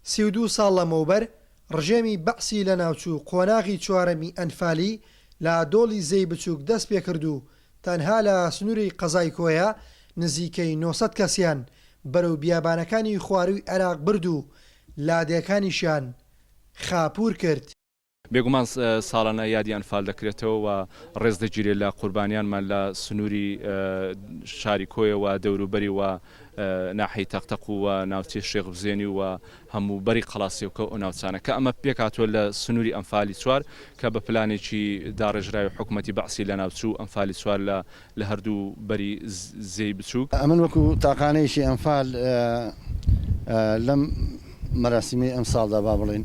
سی و دوو ساڵ لەمەوبەر ڕژێمی بەعسی لە ناوچوو قۆناغی چوارەمی ئەنفالی لە دۆڵی زێی بچووک دەست پێ کرد و تەنها لە سنووری قەزای کۆیە نزیکەی نۆ سەد کەسیان بەرەو بیابانەکانی خوارووی عێراق برد و لادێکانیشیان خاپوور کرد. بێگومان ساڵانە یادی ئەنفال دەکرێتەوە و ڕێز دەگیرێت لە قوربانیانمان لە سنووری شاری کۆیە و دەوروبەری و ناحی تەقتەق و ناوچەی شێخ بزێنی و هەموو بەری قەڵاسیەوکە و ناوچانە کە ئەمە پێکاتوە لە سنووری ئەمفالی چوار کە بە پلانێکی داڕێژراوی حکوومەتی بەعسی لە ناوچوو ئەمفالی چوار لە لە هەردوو بەری زێی بچووک ئەمن وەکو تاقانەیەکی ئەمفال لەم مەراسیمەی ئەم ساڵدا با بڵین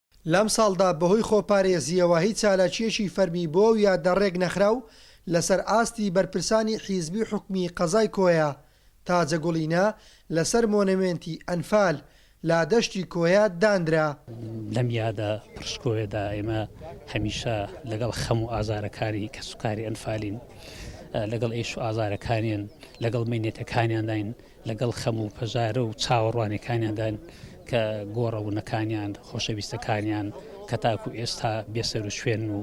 لەم ساڵدا بەهۆی خۆپارێزییەوە هیچ چالاکییەکی فەرمی بۆ ئەو یادە ڕێک نەخرا و لەسەر ئاستی بەرپرسانی حیزبی و حکومی قەزای کۆیە، تاجە گوڵینە لەسەر مۆنەمێنتی ئەنفال لە دەشتی کۆیە دانرا. لەم یادە پڕشکۆیەدا ئێمە هەمیشە لەگەڵ خەم و ئازارەکانی کەسوکاری ئەنفالین، لەگەڵ ئێش و ئازارەکانیان، لەگەڵ مەینەتەکانیانداین. لەگەڵ خەم و پەژارە و چاوەڕوانیەکانیاندان کە گۆڕەونەکانیان، خۆشەویستەکانیان کە تاکو ئێستا بێسەروشوێنن و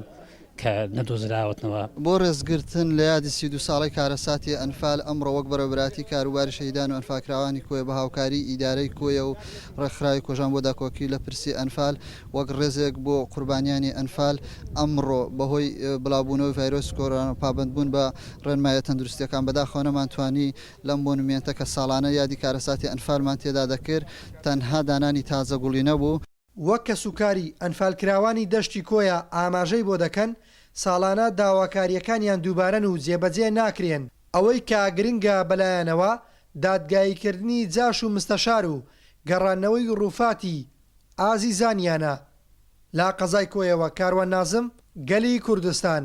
کە نەدۆزراوەتنەوە. بۆ ڕێزگرتن لە یادی سی و دوو ساڵەی کارەساتی ئەنفال، ئەمڕۆ وەک بەڕێوەبەرایەتی کاروباری شەهیدان و ئەنفالکراوانی کۆیە بە هاوکاریی ئیدارەی کۆیە و ڕێکخراوی کۆژان بۆ داکۆکی لە پرسی ئەنفال وەک ڕێزێک بۆ قوربانیانی ئەنفال ئەمڕۆ بەهۆی بڵاوبوونەوەی ڤایرۆسی کۆرۆنا و پابەندبوون بە ڕێنماییە تەندروستییەکان بەداخەوە نەمانتوانی لەم مۆنومێنتە کە ساڵانە یادی کارەساتی ئەنفالمان تێدا دەکرد، تەنها دانانی تازە گوڵی نەبوو. وەک کەسوکاری ئەنفالکراوانی دەشتی کۆیە ئاماژەی بۆ دەکەن، ساڵانە داواکارییەکانیان دووبارەن و جێبەجێ ناکرێن، ئەوەی کە گرنگە بەلایانەوە دادگاییکردنی جاش و مستەشار و گەڕاندنەوەی رووفاتی ئازیزانیانە. لە قەزای کۆیەوە، کاروان نازم، گەلی کوردستان.